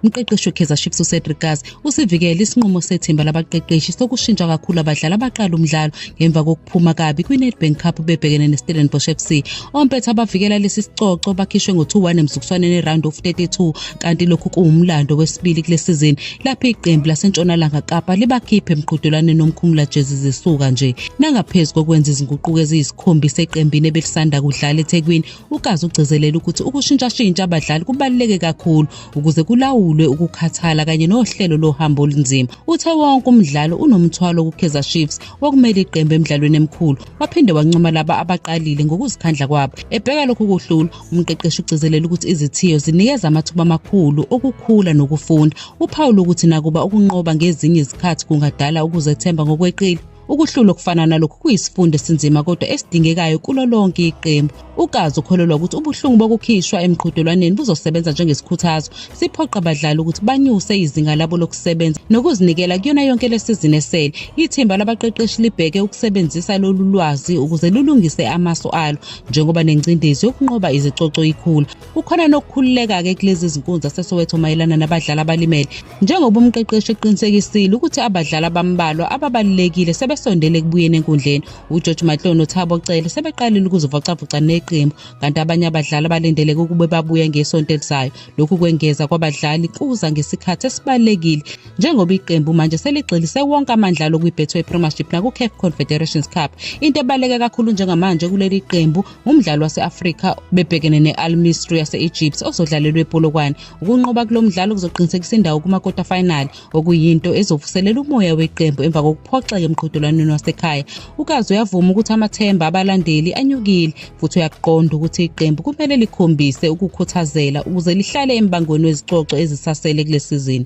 Umqeqeshi weKaizer Chiefs uCedric Kaze usivikele isinqumo sethimba labaqeqeshi sokushintsha kakhulu abadlali abaqala umdlalo ngemva kokuphuma kabi kwiNedbank Cup bebhekene neStellenbosch FC. Ompetha abavikela lesi sicoco bakhishwe ngo-2-1 emzukuswaneni eround of 32 kanti lokhu kuwumlando wesibili kule sizini lapho iqembu laseNtshonalanga Kapa libakhiphe emqhudelwaneni omkhumula jezi zisuka nje. Nangaphezu kokwenza izinguquko eziyisikhombisa eqembini ebelisanda kudlala eThekwini, uKaze ugcizelele ukuthi ukushintshashintsha abadlali kubaluleke kakhulu ukuze kulawulwe ukukhathala kanye nohlelo lohambo olunzima uthe wonke umdlalo unomthwalo kukaizer chiefs wokumele iqembu emidlalweni emkhulu waphinde wancoma laba abaqalile ngokuzikhandla kwabo ebheka lokhu kuhlula umqeqeshi ugcizelele ukuthi izithiyo zinikeza amathuba amakhulu okukhula nokufunda uphawula ukuthi nakuba ukunqoba ngezinye izikhathi kungadala ukuzethemba ngokweqile Ukuhlulwa okufana nalokhu kuyisifundo esinzima kodwa esidingekayo kulo lonke iqembu. UKazi ukholelwa ukuthi ubuhlungu bokukhishwa emqhudelwaneni buzosebenza njengesikhuthazo, siphoqa abadlali ukuthi banyuse izinga labo lokusebenza nokuzinikela kuyona yonke le sizini esele. Ithimba labaqeqeshi libheke ukusebenzisa lolu lwazi ukuze lulungise amasu alo njengoba nengcindezi yokunqoba izicoco ikhula. Kukhona nokukhululeka-ke kulezi zinkunzi zaseSoweto mayelana nabadlali abalimele. njengoba umqeqeshi eqinisekisile ukuthi abadlali abambalwa ababalulekile sebesondele ekubuyeni enkundleni ugeorge matloo nothabo cele sebeqalile ukuzivocavoca neqembu kanti abanye abadlali abalindeleke ukube babuye ngesonto elizayo lokhu kwengeza kwabadlali kuza ngesikhathi esibalulekile njengoba iqembu manje seligxilise wonke amandla alo kwi-betway premiership naku-caf confederations cup into ebaluleke kakhulu njengamanje kuleli qembu umdlalo wase-afrika bebhekene ne-al misri yase-egypt ozodlalelwa epolokwane Ukunqoba kulo mdlalo kuzoqinisekisa indawo kuma-quarter final okuyinto ezovuselela umoya weqembu emva kokuphoxeka emqhudelwaneni wasekhaya. UKazi uyavuma ukuthi amathemba abalandeli anyukile futhi uyakuqonda ukuthi iqembu kumele likhombise ukukhuthazela ukuze lihlale embangweni wezicoco ezisasele kule sizini.